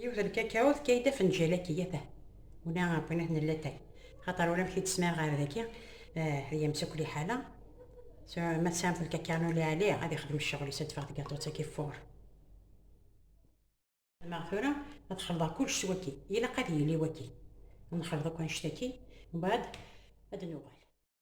Yiwet lkakaw tefka-yi-d afenǧal akk iyyata. Ula apunat n latay. Xaṭer ula amek i d-smiɣ ɣer daki, ay amsakli ḥala. Ma tesɛamt lkakaw n uliɛli, ad ixdem ccɣel-is, ad d-teffeɣ tgaṭut-agi fur. Maɣ tura ad xelḍeɣ kullec s waki, ilaq ad yili waki. Ad nexleḍ akk annect-agi, mbaɛd ad d-nuɣal.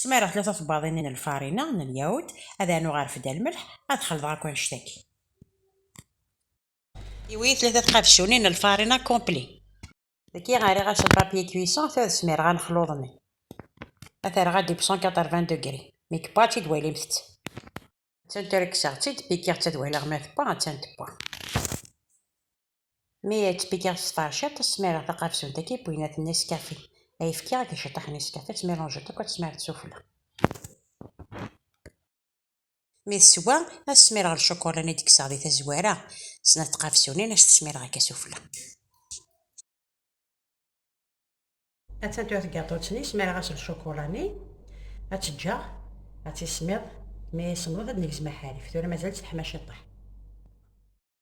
Smireɣ tlata tebbaḍin n lfarina n lyaud, ad rnuɣ arfed lmelḥ, ad xelḍeɣ akk annect aki. Iwi tlata tqabsunin n lfarina complet. Daki rriɣ as un papier cuisson tura ad smireɣ anexluḍ-nni. Ad t-rreɣ a deep cent quatre-vingts degrés. Mi yebba ad t-id-walimt-t. Attan tura kkseɣ-tt-id, pikiɣ-tt ad waliɣ ma tebba, attan tebba. Mi ay tt-beyyiɣ s tɛecciḍt, smireɣ taqersunt akk i wwin ad t-nescafi. Ay fkiɣ deg ciṭṭaḥ n yescafi, ad tt-milanjeḍ akk, ad tt-smireḍ s ufella. Mi teswa, ad smireɣ lcukulan i d-kkseɣ di tazwara, snat tqersunin, ad s-t-smireɣ akka s ufella. Ad taddu tgaṭut-nni, smireɣ-as lcukulan-nni, ad tt-ǧǧeɣ ad tismiḍ, mi ay semmeḍet ad d-negzem aḥarif. Tura mazal-tt teḥma ciṭṭaḥ.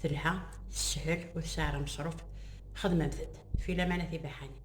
Telha, teshel, ur tesɛi ara ameṣruf, xedmemt-d, fi laman a tibaḥanin.